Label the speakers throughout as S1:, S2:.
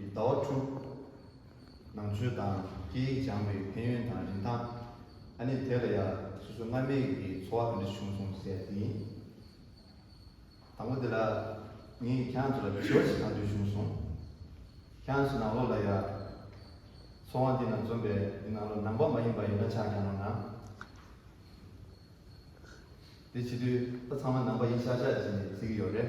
S1: ཀྱི་ཟླ་བ་དྲུག། ནང་ཆོས་དང་སྐད་ཡིག་སྦྱངས་པའི་ཕན་ཡོན་དང་རིན་ཐང། ཨ་ནི་དེ་ལ་ཡ། སོ་སོ་སྔར་མེད་ཀྱི་འཚོ་བ་གང་འདྲ་བྱུང་སོང་ཟེར་ཡ་དེ་ཡིན། དང་པོ་དེ་ལ། ངས་ཁྱེད་ཚོ་ལ་དྲི་བ་ཞིག་གང་འདྲ་བྱུང་སོང། ཁྱེད་ཚོ་ནང་ལོགས་ལ་ཡ། འཚོ་བ་འདི་ན་འཛོམས་པའི་འདི་ནང་ལོགས་ནང་པ་མ་ཡིན་པ་ཡོད་ན་ཆ་གང་ན་ན། དེ་བྱེད་དུས་ད་ཚང་མ་ནང་པ་ཡིན་ཤག་ཤག་ཅིག་ནས་བརྩི་གི་ཡོད་རེད།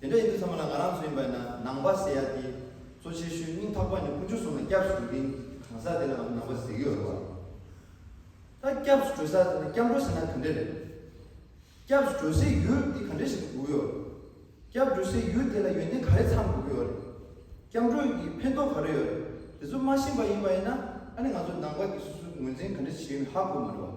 S1: དེ་འདྲ་ཡིན་དུས་ཚང་མ་ལ་ང་རང་ཚོ་ཡིན་པ་ཡིན་ན་ནང་པ་ཟེར་ཡག་སྟེ། གཙོ་ཆེ་ཤོས་སྙིང་ཐག་པ་ནི་ཀུན་སྤྱོད་བཟུང་ན་སྐྱབས་སུ་འགྲོ་མཁན་གྱི་གང་ཟག་དེ་ལའང་ནང་པ་ཟེར་གྱི་ཡོད་རེད་བ། ད་སྐྱབས་སུ་འགྲོ་ས་དེ་ནི་སྐྱབས་འགྲོ་ཟེར་ན་ག་འདྲས་རེད། སྐྱབས་སུ་འགྲོ་སའི་ཡུལ་དེ་ག་འདྲས་ཞིག་ཏུ་འགུག་གི་ཡོད་རེད། སྐྱབས་འགྲོ་སའི་ཡུལ་དེ་ལ་ཡོན་ཏན་ག་རེ་ཚང་དགོས་ཀྱི་ཡོད་རེད། སྐྱབས་འགྲོ་གི་ཕན་ཐོགས་ག་རེ་ཡོད་རེད་དེ་ཚོ་མ་ཤེས་པ་ཡིན་པ་ཡིན་ན་ཨ་ནི་ང་ཚོ་ནང་པ་དེ་སོ་སོའི་ངོས་འཛིན་ག་འདྲ་བྱེད་ཡོད་མེད་ཧ་གོ་མ་འགྲོ་བ།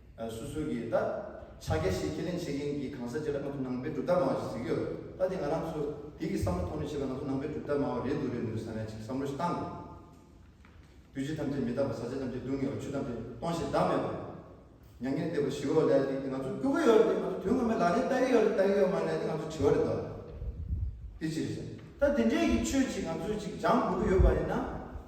S1: སུ་སུ་གི་ད་ཆ་རྒྱ་ཞེས་ཁས་ལེན་བྱེད་མཁན་གྱི་གང་ཟག་བྱས་ན་ང་ཚོ་ནང་པའི་གྲུབ་རྟགས་སྨྲ་བ་ཞིག་ཟེར་གྱི་ཡོད། ད་དེ་ང་རང་ཚོ་དེ་གི་བསམ་བློ་ཐོག་ནས་བཤད་པ་ང་ཚོ་ནང་པའི་གྲུབ་རྟགས་སྨྲ་བ་རེད་འདུག་རེད་འདུག་ཟེར་ན་ཅིག་བསམ་བློ་ཞིག་བཏང་དགོས། དུས་བྱེད་ཐམས་ཅད་མི་རྟག་པ་ཟ་བྱེད་ཐམས་ཅད་སྡུག་བསྔལ་བ་ཆུ་ཐམས་ཅད་སྟོང་ཞིང་བདག་མེད་པ། མྱ་ངན་འདས་པ་ཞི་བའོ་ལས་དེ་ང་ཚོ་སྐྱོ་གི་ཡོད་རེད་ང་ཚོ་དོན་ངོ་མའི་ལག་ལེན་བསྟར་གི་ཡོད་རེད་བསྟར་གི་ཡོད་མ་ལས་དེ་ང་ཚོ་བྲིས་བ་རེད་དོ། དེ་ཅི་རེད་ཟེར་ན་ད་དེ་འདྲས་ཀྱི་ཆོས་ཅིག་ང་ཚོས་ཅིག་སྦྱང་དགོས་ཀྱི་ཡོད་པ་ཡིན་ན།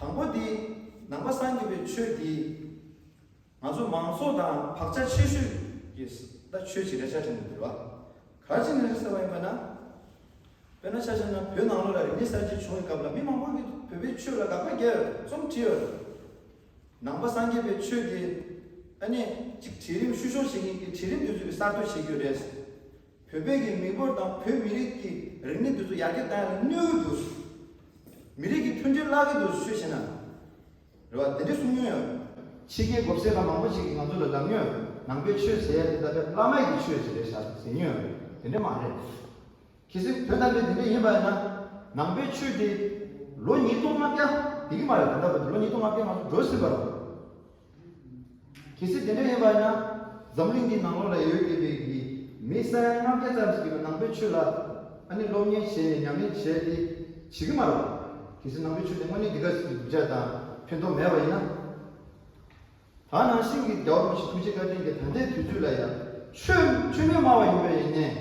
S1: དང་པོ་དེ། ནང་པ་སངས་རྒྱས་པའི་ཆོས་འདི། ང་ཚོ་མང་ཚོགས་དང་བག་ཆགས་ཆེ་ཤོས་ཀྱིས་ད་ཆོས་ཆེ་རེད་ཆ་ཆེ་རེད་ཟེར་བ་ག་ཅི་ནས་རེད་ཟེར་བ་ཡིན་པ་ན། དཔེར་ན་ཆ་ཆེ་ན་བོད་ནང་ལོ་ལ་རིག་གནས་གསར་བརྗེ་བྱུང་བའི་སྐབས་ལ་མི་མང་པོ་ཞིག་གིས་བོད་པའི་ཆོས་ལ་དགག་པ་རྒྱག་ཡོད་རྩོམ་བྲིས་ཡོད། ནང་པ་སངས་རྒྱས་པའི་ཆོས་དེ། ཨ་ནེ། གཅིག་གྲལ་རིམ་བཤུ་གཞོག་བྱེད་མཁན་གྱི་གྲལ་རིམ་དེ་ཚོས་གསར་གཏོད་བྱེད་རྒྱུ་རེད། བོད་པའི་གི་མི་འབོར་དང་བོད་མི་རིགས་ཀྱི་རིག་གནས་དེ་ཚོ་ཡར་རྒྱས་བཏང་ཡ་ལ་གནོད་འོས་འདུག། མི་རིགས་ཀྱི་མཐུན་སྒྲིལ་བརླག་གི་འདུག་ཤོད་བྱས་ན། རེད་བ་དེ་འདྲས་གསུང་མྱོང་ཡོད། ཕྱི་རྒྱལ་གོ་བསད་པ་མང་པོ་ཞིག་གིས་ང་ཚོ་ལ་ལབ་མྱོང་ཡོད་ནང་པའི་ཆོས་ཟེར་ཡ་དེ་ད་བེ་བླ་མ་ཡི་གི་ཆོས་ཟེར་ཡ་བྱ་ཟེར་མྱོང་ཡོད་དེ་འདྲས་མ་རེད། གལ་སྲིད་དོན་དམ་པའི་དེ་འདྲས་ཡིན་པ་ཡིན་ན། ནང་པའི་ཆོས་དེ། ལོ་ཉིས་སྟོང་ལྔ་བརྒྱ། དེ་གི་མ་རེད་ད་ལྟ་བར་དུ་ལོ་ཉིས་སྟོང་ལྔ་བརྒྱ་ང་ཚོ་འགྲོ་ཟིན་པ་རང། གལ་སྲིད་དེ་འདྲ་ཡིན་པ་ཡིན་ན། འཛམ་གླིང་འདིའི་ནང་ལོ་རེ་ཡོད་ཀྱི་རིགས་ཀྱི་མི་ས་ཡ་ལྔ་བརྒྱ་ཙམ་ཞིག་གིས་ནང་པའི་ཆོས་ལ་ཨ་ནི་སློབ་གཉེར་བྱས་ནས་ཉམས་ལེན་བྱས་ཏེ་བྱེད་ཀྱི་མ་རེད། གལ་སྲིད་ནང་པའི་ཆོས་དེ་དངོས་གནས་འདི་ག་ཞིག་གི་གདུལ་བྱ་དང་ཕན་ཐོགས་མེད་པ་ཡིན་ན། ད་ནང་བཞིན་གྱི་རྒྱ་བོད་མི་ཞིག་ཐུགས་རྗེ་བཀའ་དྲིན་གྱི་ད་ལྟའི་དུས་ཚོད་ལ་ཡང། ཆོས་ཆོས་མིན་སྨྲ་བ་ཡིན་པའི་ཡིན་ནས་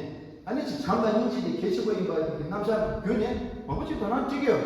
S1: ཨ་ནི་བྱེད་བྱམས་དང་སྙིང་རྗེ་དེ་གལ་ཆེན་པོ་ཡིན་པ་ཞིག་གི་རྣམ་གཞག་གི་བརྒྱུད་ནས། མང་པོ་ཅིག་དོ་སྣང་བགྱིད་ཀྱི་ཡོད།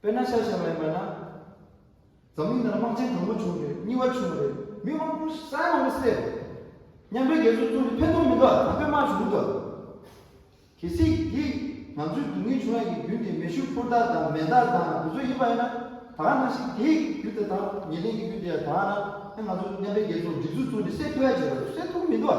S1: དཔེར་ན་ཤ་ཞེས་པ་ཡིན་པ་ན། འཛམ་གླིང་ནང་དམག་ཆེན་དང་པོ་བྱུང་རེད་གཉིས་བ་བྱུང་རེད་མི་མང་པོ་ཟས་མང་པོ་བསད་རེད། མཉམ་འབྲེལ་རྒྱལ་ཚོགས་ཚོགས་འདུ་ཕན་ཐོགས་མི་འདུག་དམ་པའི་དམག་བྱུང་འདུག། གལ་སྲིད་ཡིད། ང་ཚོའི་སྡུག་བསྔལ་བྱུང་ཡ་གི་རྒྱུ་དེ་མེ་ཤུགས་ཕོར་དག་དང་མེ་མདག་དང་དེ་ཚོ་ཡིན་པ་ཡིན་ན། ད་ག་ནང་བཞིན་དེའི་རྒྱུ་དེ་དང་ཉེ་ལེན་གྱི་རྒྱུ་དེ་ཡ་དག་ན་ཨེ་ང་ཚོ་མཉམ་འབྲེལ་རྒྱལ་ཚོགས་སྒྲིག་འཛུགས་ཚོགས་འདུ་བསད་ཐུབ་ཡ་ཅེས་པ་རེད་བསད་ཐུབ་མི་འདུག།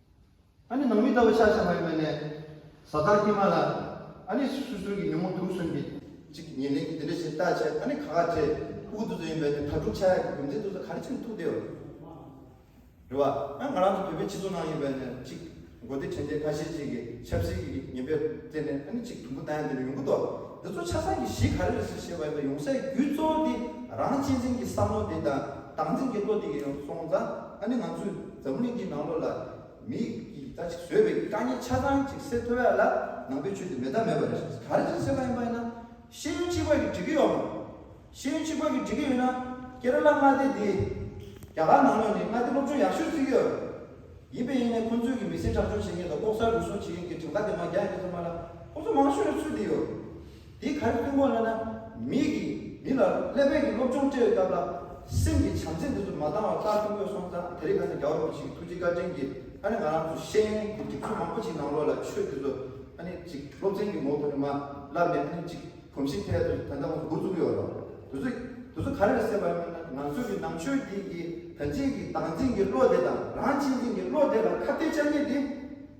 S1: ཨཱ་ནི་ནང་མི་ལྟ་བུ་ཤ་ཤ་མ་ཡུ་མེ་ནས། བཟའ་ཟླ་སྐྱེས་མ་ལ། ཨཱ་ནི་སུ་སུ་རུང་གི་ཉོན་མོངས་དུག་གསུམ་གྱིས། གཅིག་ཉེ་ལེན་གྱིས་དེ་འདྲ་བྱེད་ལྟ་བྱེད་ཨཱ་ནི་ག་ག་བྱེད། སྤུ་གུ་འདུ་འཛི་ཡིན་པས་ནི་དྭ་ཕྲུག་ཆ་ཡ་གི་རྒྱུ་མཚན་འདུ་འཛི་ག་རེ་བྱེད་ནི་ཐུགས་བདེ་བ། རེ་བ། ཨཱ་ང་རང་ཚོ་བོད་པའི་སྤྱི་ཚོགས་ནང་ཡིན་པས་ནི་གཅིག། མགོ་བདེ་དྲན་བདེ་ཁ་ཤས་ཅིག་གིས་ཆབ་སྲིད་ཀྱི་ཉེན་པས་བརྟེན་ནས་ཨཱ་ནི་གཅིག་དུམ་བུ་ལྡང་ཡང་འདི་ནས་ཡོང་གི་འདུག་འདི་ཚོ་ཆ་ཚང་གི་གཞི་ག་རེ་རེད་ཟེར་ཤེས་པ་ཡིན་པས་ཡོང་སའི་རྒྱུ་གཙོ་བོ་དེ་རང་གཅེས་འཛིན་གྱི་བསམ་བློ་དེ་དང་བདག་འཛིན་གྱི་བློ་དེ་ཡིན་ཡོང་སོང་ཙང་ཨཱ་ནི་ང་ཚོས། འཛམ་གླིང་འདིའི་ནང་ལོགས་ལ་མིས་ཀྱིས་ད་ཅིག་བཟོས་པའི་རྐང་གཉིས་ཆ་ཚང་ཅིག་སེལ་ཐུབ་ཡག་ལ་ནང་པའི་ཆོས་དེ་མེད་ཐབས་མེད་པ་རེད་ཟེར་ག་རེ་བྱས་སེལ་བ་ཡིན་པ་ཡིན་ན་ཤེས་ཡོན་གཅིག་པ་གིས་འགྲིག་གི་ཡོད་མོད། ཤེས་ཡོན་གཅིག་པ་གིས་འགྲིག་གི་ཡོད་ན་ཀེ་ར་ལ་མངའ་སྡེ་འདི་རྒྱ་གར་ནང་ལོགས་ནས་མངའ་སྡེ་སློབ་ཆུང་ཡག་ཤོས་བརྩིགས་ཡོད་རེད། ཡིན་པས་ཡིན་ནས་ཁོང་ཚོས་ཀྱིས་མི་སེར་དྲག་སྐྱོང་བྱེད་མཁན་དང་ལྐོག་ཟ་རུལ་སུངས་བྱེད་མཁན་གྱི་གྲངས་ཀ་དེ་མ་རྒྱག་ཡིན་ཚོད་མ་ལ་ཁོང་ཚོ་མང་ཤོས་རེད་ཚུལ་འདི་ཡོད། འདི་གར་ཐུན་མོང་གླེང་ན་མིག་གིས་མི་ལ་ཀླད་པའི་གྱི་སློབ་སྦྱོང་སྤྲད་ཡོད་སྟབས་ལ། སེམས་ཀྱི་བྱམས་བརྩེ་འདི་ཚོ་མ་འདང་བ་ལྟ་ཐུབ་མོད་སོང་ཙང་དེ་རིགས་ཁ་ཚ་རྒྱ་བོར་མི་བྱེད་གི་ཐུགས་རྗེ་བཀའ་དྲིན་གྱིས་ཨ་ནི་ང་རང་ཚོ་ཤེས་ཡོན་གྱི་སྒྲིག་འཛུགས་མང་པོ་ཞིག་ནང་ལོགས་ལ་ཆོས་འདི་ཚོ་ཨ་ནི་ཅིག་སློབ་ཚན་གྱི་ངོ་བོ་ནས་མ་བསླབས་ནས་ཨ་ནི་ཅིག་གོམས་གཤིས་ཐད་དུ་ད་ལྟ་ངོ་བོ་འུར་ཚུགས་ཡོད་རོགས། དེ་ཚོ་དེ་ཚོ་ག་རེར་སེམས་པ་སྙམ་ན་ང་ཚོའི་གྱི་ནང་ཆོས་འདིའི་གྱི་དོན་ཆེན་གྱི་བདག་འཛིན་གྱི་བློ་དེ་དང་རང་གཅེས་འཛིན་གྱི་བློ་དེ་ལ་ཁ་གཏད་བཅག་ཉེས་དེ།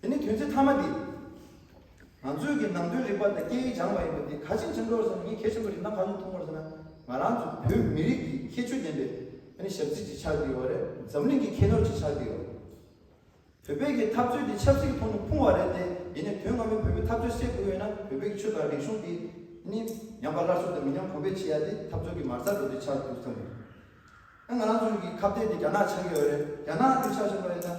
S1: དེ་ནི་དོན་ཚིག་མཐའ་མ་འདི། ང་ཚོས་ཀྱི་ནང་དོན་རིག་པ་དང་སྐད་ཡིག་སྦྱངས་པ་ཡིན་པ་འདི་ག་ཅིག་མཚོན་འགྲོར་ཟེར་ན་ངས་གལ་ཆེན་པོ་རིག་སྣང་གང་ཡིན་མཐོང་འགོར་ཟེར་ན། ང་རང་ཚོ་བོད་མི་རིགས་ཀྱི་ཁྱད་ཆོས་ལྡན་པའི་ཞབས་རྩིས་ཀྱི་ཕྱག་འདིའོ་རེད་འཛམ་གླིང་གི་ཁྱད་ནོར་གྱི་ཕྱག་འདིའོ། བོད་པའི་གི་འཐབ་རྩོད་འདི་ཆབ་སྲིད་ཀྱི་ཐོག་ནས་ཕུང་བ་རེད་དེ་ཡིན་ནས་དོན་སྔ་མོའི་བོད་པའི་འཐབ་རྩོད་སེལ་དགོས་ཡོད་ན་བོད་པའི་གི་ཆོས་དང་རིག་གཞུང་འདི་ནི་ཉམས་པ་སླར་གསོ་དང་མི་ཉམས་གོང་འཕེལ་བྱེད་ཡ་དེ་འཐབ་རྩོད་གི་མར་ཚ་འགྲོ་དེ་ཆགས་འདུག་བསམ་ཡོད། ང་རང་ཚོའི་གི་ཁ་བརྡའི་འདི་རྒྱ་ནག་ཆགས་ཀྱི་ཡོད་རེད་རྒྱ་ནག་འདི་ཆགས་བཞིན་པ་ཡིན་ན།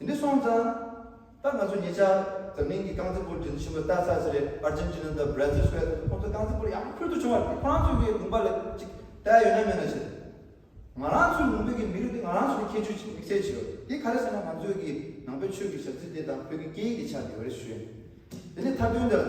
S1: ཡིན་ནི་སོང་ཙང། ད་ང་ཚོ་ཉེ་ཆར་འཛམ་གླིང་གི་རྐང་རྩེད་སྤོར་རྒྱུན་ཆེན་པོ་ལྟ་ས་ཞིག་རེད་ཨར་ཇིན་ཇི་ནཱ་དང་བྷྲ་ཛིལ་སོགས་ཡག་ཐུབ་ཁོང་ཚོ་རྐང་རྩེད་སྤོར་ཡག་པོ་ཕུལ་དུ་བྱུང་བ་རེད་ཁོ་རང་ཚོའི་དགོན་པ་ལ་ཅིག་བལྟས་ཡོད་ན་མེད་ན་བྱས། ང་རང་ཚོའི་ལུང་པའི་གི་མི་རིགས་འདི་ང་རང་ཚོའི་ཁྱད་ཆོས་ཀྱི་དམིགས་བསལ་བྱེད་པ་དེ་ག་རེད་ཟེར་ན་ང་ཚོའི་གི་ནང་པའི་ཆོས་ཀྱི་ཞབས་རྩིས་དེ་དང་བོད་ཀྱི་སྐད་ཡིག་གི་ཆ་དེ་ཡོད་རེད་ཞུས། དེ་ནས་མཐའ་དོན་འདི་ལ།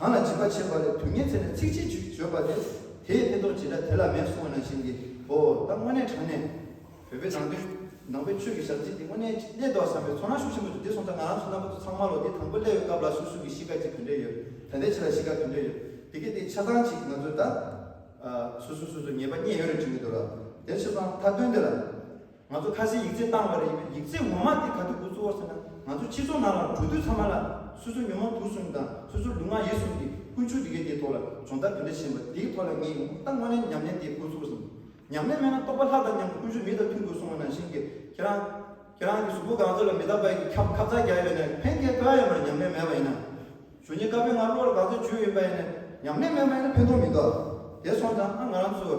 S1: གང་ལ་འཇིགས་པ་བྱེད་པ་རེད་དུས་ངས་ཚེ་ནས་ཚིག་གཅིག་བྱུས་བརྗོད་པ་དེ་དེའི་ཕན་ཐོག་ཇི་འདྲ་དེ་ལ་མེད་གསུང་བ་ནང་བཞིན་གྱི་ཧོ་ད་དངོས་གནས་དྲང་གནས་བོད་པའི་ནང་དོན་ནང་པའི་ཆོས་ཀྱི་ཞབས་རྗེས་འདི་དངོས་གནས་ཀྱི་གནས་འདུག་བསམ་པའི་ཚོར་སྣང་ཤུགས་ཆེན་པོ་འདུག་དེ་སོང་ཙང་ང་རང་ཚོ་རྣམ་པ་ཚོ་ཚང་མ་ལོ་འདི་དང་པོ་སླེབས་ཡོད་སྐབས་ལ་སོ་སོ་གི་གཤིས་ཀ་ཅིག་ག་འདྲས་ཡོད་ད་ལྟའི་ཆེ་ལ་གཤིས་ཀ་ག་འདྲས་ཡོད་དེ་གི་དེ་ཆ་ཚང་ཅིག་ང་ཚོས་ད། སོ་སོས་སོ་སོའི་ཉེས་པ་རྙེད་ཡོད་རེད་དྲི་ངེས་འདུག་ལ་དེར་ཆོས་ཚང་མཐའ་དོན་དེ་ལ། ང་ཚོ་ཁ་སའི་ཡིག་རྩལ་བཏང་བ་རེད་ཡིན་ན་ཡིག་རྩལ་ངོ་མ་དེ་ག་དུས་དགོས་ཚུལ་བོར་ཟེར་ན་ང་ཚོ་ཕྱི་ཚོང་ནང་ལ་འགྲོ་དུས་ཚང་མ་ལ་སོ་སོའི་ཉོན་མོངས་དུག་གསུམ་དང་སོ་སོའི་ལུས་ངག་ཡིད་གསུམ་གྱི་ཀུན་སྤྱོད་དེ་གའི་དེའི་ཐོག་ལ་སྦྱོང་བརྡར་དེ་འདྲ་བྱེད་པ་དེའི་ཐོག་ལ་ངས་ཡོང་ཁུངས་ལྟ་དངོས་གནས་ཉམས་ལེན་དེ་དགོས་ཚུལ་བོར་ཟིན། ཉམས་ལེན་མེད་ན་རྟོག་པ་ལྷ་དང་མཉམ་དུ་ཀུན་སྤྱོད་མི་དང་མཐུན་དགོས་གསུང་བ་ནང་བཞིན་གྱི་ཁྱེད་རང། ཁྱེད་རང་གི་གཟུགས་པོ་གངས་རྫོབ་ལ་མི་རྟག་པའི་གྱི་ཁབ་ཁབ་རྩག་རྒྱག་ཡོད་ནས་ཕན་ཁེ་དཀའ་ཡོད་མ་རེད་ཉམས་ལེན་མེད་པ་ཡིན་ན། གཞོན་སྐྱེས་དཀར་པོའི་ངར་གློ་བར་གངས་རྫོབ་བྱོལ་ཡོད་ཡིན་པ་ཡིན་ན། ཉམས་ལེན་མེད་པ་ཡིན་ན་ཕན་ཐོག་མི་འདུག་ཨ། དེ་སོང་ཙང་ཨ་ང་རང་ཚོའི།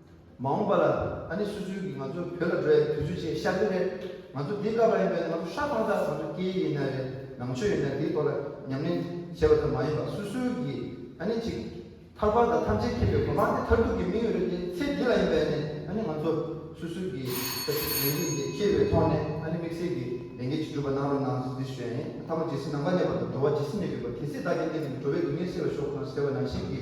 S1: མ་འོངས་པ་ལ་ཨ་ནེ་སུ་སུའུ་གིས་ང་ཚོ་བོད་ལ་འགྲོ་ཡ་དེ་དུས་ཚོད་ཆེས་ཤར་རྒྱུ་རེད། ང་ཚོ་འདི་སྐབས་ཡིན་པས་ན་ང་ཚོ་ཧྲ་ཧྥང་ཆགས་ཚང་ཚོ་སྐྱེ་ཡི་ཡིན་ན་རེད་ནང་ཆོས་ཡིན་ན་དེའི་ཐོག་ལ་ཉམས་ལེན་བྱེད་པ་ཙམ་མ་ཡིན་པར་སུ་སུའུ་གིས་ཨ་ནེ་གཅིག་ཐར་ཕར་དང་ཐམས་ཅད་མཁྱེན་པའི་སྒོ་མང་དེ་ཐར་ཐུག་གི་མིང་ཡོད་རེད་དེ་ཚེ་འདི་ལ་ཡིན་པས་ནི་ཨ་ནེ་ང་ཚོ་སུ་སུའུ་གིས་ལྟ་ཞིབ་ལས་འགན་འདི་ཁྱེར་བའི་ཐོག་ནས་ཨ་ནེ་དམིགས་བསལ་གྱི་ལས་འགན་ཅིག་སྒྲུབ་པ་གནང་རོགས་གནང་ཟེར་ཞུ་ཡ་ཡིན་ཨ་ཐ་མ་ཇི་སྲིད་ནང་པ་གནས་པ་དང་འགྲོ་བ་ཇི་སྲིད་མེད་དགོས་པ་དེ་སྲིད་བདག་གི་གནས་འདི་ནས་འགྲོ་བའི་སྡུག་བསྔལ་སེལ་བར་ཤོག་གསུང་ཟེར་བ་ནང་བཞིན་གྱི